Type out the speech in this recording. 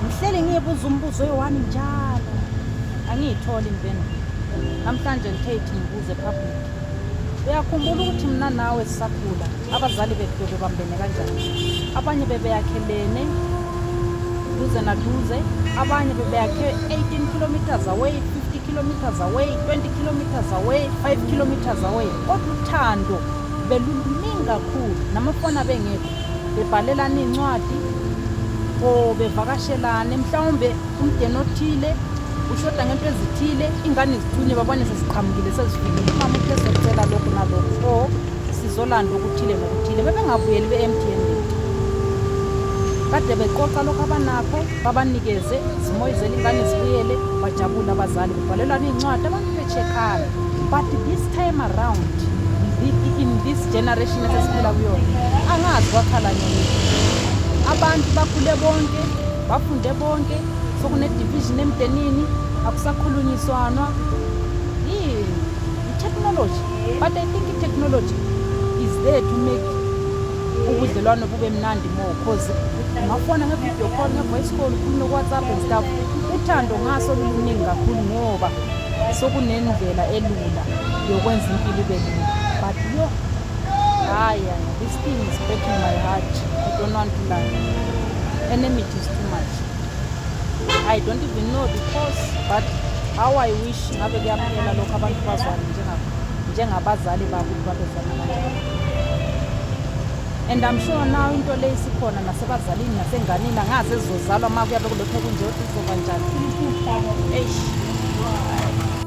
ngihleli ngiyebuza umbuzo oyiwani njalo angiyitholi impendulo namhlanje ngithe ithi ngibuze public uyakhumbula ukuthi mna nawe sisakhula abazali bethu bebebambene kanjani abanye bebeyakhelene duze naduze abanye bebeyakhe 18 kilometers away 50 kilometers away 20 kilometers away 5 kilometers away kodwa uthando beluluningi kakhulu namafoni abengekho bebhalelana iy'ncwadi or bevakashelane mhlawumbe umdeni othile ushoda ngento ezithile ingane zithunye babone seziqhamukile sezifikile umama uthe sokutshela lokhu nalokhu or sizolanda okuthile nokuthile bebengabuyeli be-mtn kade beqoqa lokhu abanakho babanikeze zimoyizele ingane zibuyele bajabule abazali kubhalelwana iy'ncwadi abantu Chekana. But this time around in this generation esesiphila kuyona angazi kwakhala nini. Abantu bakhule bonke, bafunde bonke, sokune division emdenini, akusakhulunyiswana. Yini? Technology. But I think technology is there to make ubudlelwano bube mnandi more because ungafona nge-video call nge-voice call ukhulume ku-whatsapp and stuff uthando ngaso luluningi kakhulu ngoba sokunendlela elula yokwenza impilo ibe lula but yo hayi this thing is breaking my heart i don't want to lie enemy is too much i don't even know the cause but how i wish ngabe kuyaphela lokho abantu bazwane njengabazali babo ukuthi babezwana kanjani and I'm sure now into le isikhona nasebazalini nasenganini angazi ezizozalwa uma kuyabe kulokhu kunje ukuthi izoba njani eish